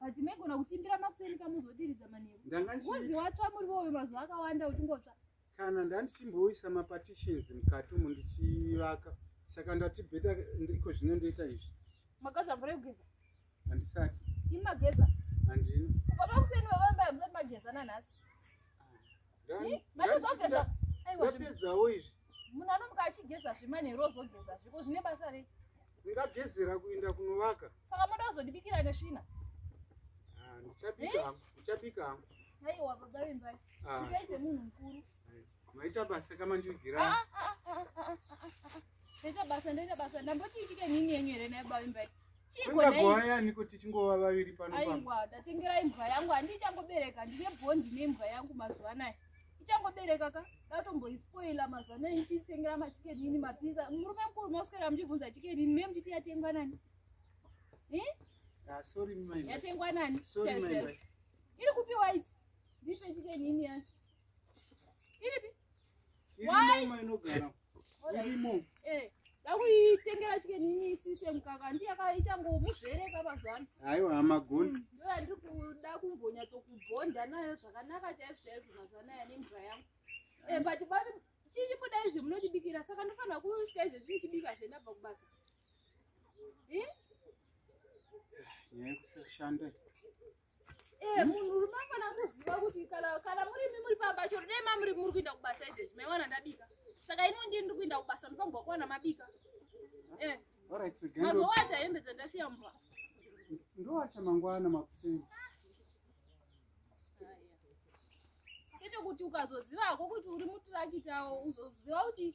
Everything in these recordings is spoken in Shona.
but maigona kutimbira makuseni kamuzodiridza manheru uzi watsva murivo uyu mazuva akawanda uchingotsva kana ndandichimboisa mapartitions mukati umu ndichivaka saka ndati beta ndiko zvino ndoita izvi mageza mvura yekugeza handisati imageza handina kubva pakuseni vavambayamusati mageza nanhasi ndapedzawo izvi munhu anomuka achigeza zvemanhero ozogeza zviko zvine basa rei ndingagezera kuinda kunovaka saka moda kuzondibikira nesvina ah, ndichabika hangu ndichabika hangu aiwa baba vembai ah. chikai semunhu mukuru maita basa kama ndivigira ah, ndaita basa ndaita basa ndambotiichike nini yenyu here naye baba vembai Chiiko nei? kuti chingova vaviri pano pano. Aiwa, ndatengera imbwa yangu handichangobereka ndine bond nembwa yangu mazuva anaya. Ichangobereka ka ndatomboispoila mazuva anaya ndichitengera machikenini mapizza. Murume mukuru moswera muchibvunza chikenini me muchiti yatengwa nani? Eh? Ah, sorry mai. Yatengwa nani? Sorry mai. Iri kupi white? Ndipe chikenini yacho. Iripi? Iri mai inogara. ndakuitengera chike nini sise mukaka ndiyaka ichangomuzvereka mazvano aiwa hama goni mm, ndo yandiri kuda kumbonyatsokubhonda nayo zvakanaka chaizvo chaizvo mazvano aya nemvura yangu eh, but babe chichibuda izvi munotibikira saka ndofanira kusvika izvi zvichibika zvenabva kubasa nyaya yekusashanda Eh, munhu rume afana kuziva kuti kana kana muri imi muri pamba chero dai mamuri muri kuenda kubasa izvezvi maiwana ndabika saka ini ndini ndiri kuenda kubasa ndofamba kuwana mabika eh Alright, Regendo. mazuva acho hembe dzandasiya mumba Ndowacha mangwana makuseni. chete kuti ukazoziva hako kuti uri mutirakitawo uzoziva kuti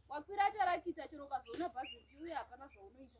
wakwira tarakita chero ukazoona bhazi richiuya hapana zvaunoita